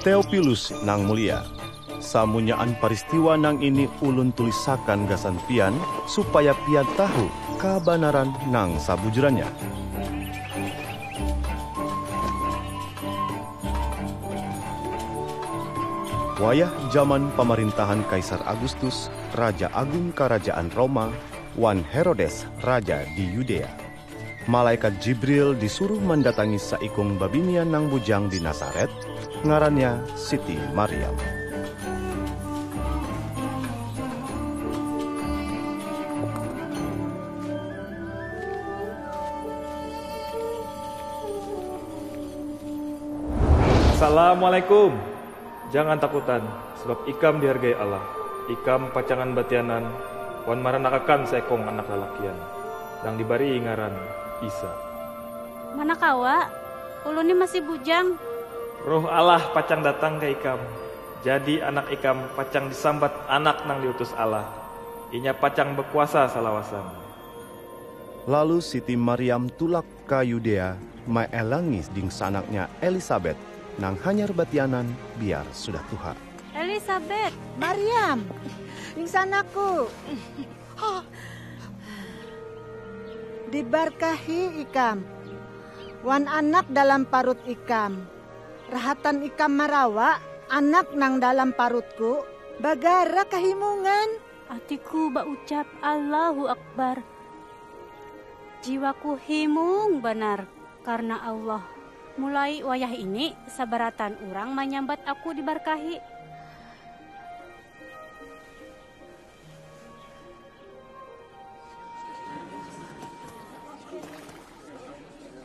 Teopilus nang mulia, samunyaan paristiwa nang ini ulun tulisakan gasan pian supaya pian tahu kabanaran nang sabujurannya. Wayah jaman pamarintahan Kaisar Agustus, raja agung karajaan Roma, wan Herodes, raja di Yudea. Malaikat Jibril disuruh mandatangi saikung babinian nang bujang di Nasaret, ngarannya Siti Maryam. Assalamualaikum. Jangan takutan, sabab ikam dihargai Allah. Ikam pacangan batianan wan maranakakan saekong anak lalakian, nang dibarii ngaran Isa. Mana kawa, ulun ni masih bujang. Roh Allah pacang datang ka ikam, jadi anak ikam pacang disambat Anak nang diutus Allah. Inya pacang bakuasa salawasan. Lalu Siti Maryam tulak ka Yudea maelangi dingsanaknya Elisabet nang hanyar batianan biar sudah tuha. Elisabet! Maryam! Dingsanakku! Dibarkahi ikam wan anak dalam parut ikam. Rahatan ikam marawa anak nang dalam parutku bagara kahimungan. Atiku baucap Allahu Akbar. Jiwaku himung banar karna Allah. Mulai wayah ini sabarataan urang manyambat aku dibarkahi.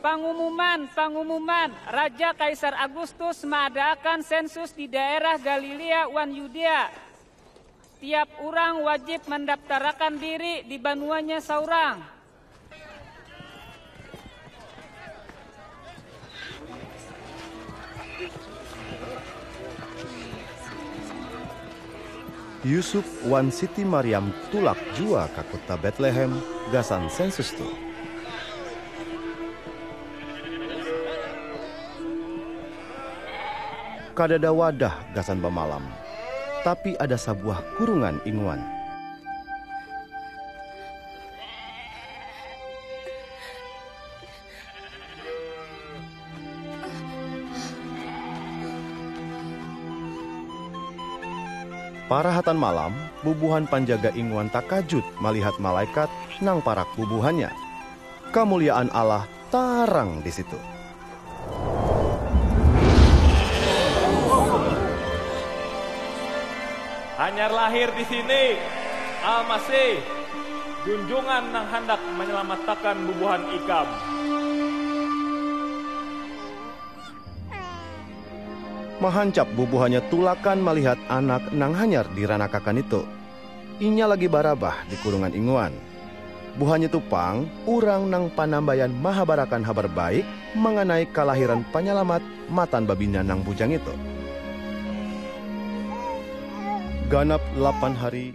Pangumuman, Pangumuman, Raja Kaisar Agustus maadaakan sensus di daerah Galilea wan Yudea. Tiap urang wajib mandaptarakan diri di banuanya saurang. Yusuf wan Siti Maryam tulak jua ka kuta Betlehem gasan sensus tu. Kadada wadah gasan bamalam. tapi ada sabuah kurungan inguan. Parahatan malam, bubuhan panjaga inguan takajut malihat malaikat nang parak bubuhannya. Kamuliaan Allah Tarang di situ. Hanyar lahir di sini, Al-Masih, Junjungan nang handak manyalamatakan bubuhan ikam. Mahancap bubuhannya tulakan malihat anak nang hanyar diranakakan itu. Inya lagi barabah di kurungan inguan. Buhannya tu pang urang nang panambayan mahabarakan Habar Baik manganai kalahiran Panyalamat matan babinian nang bujang itu. Ganap lapan hari.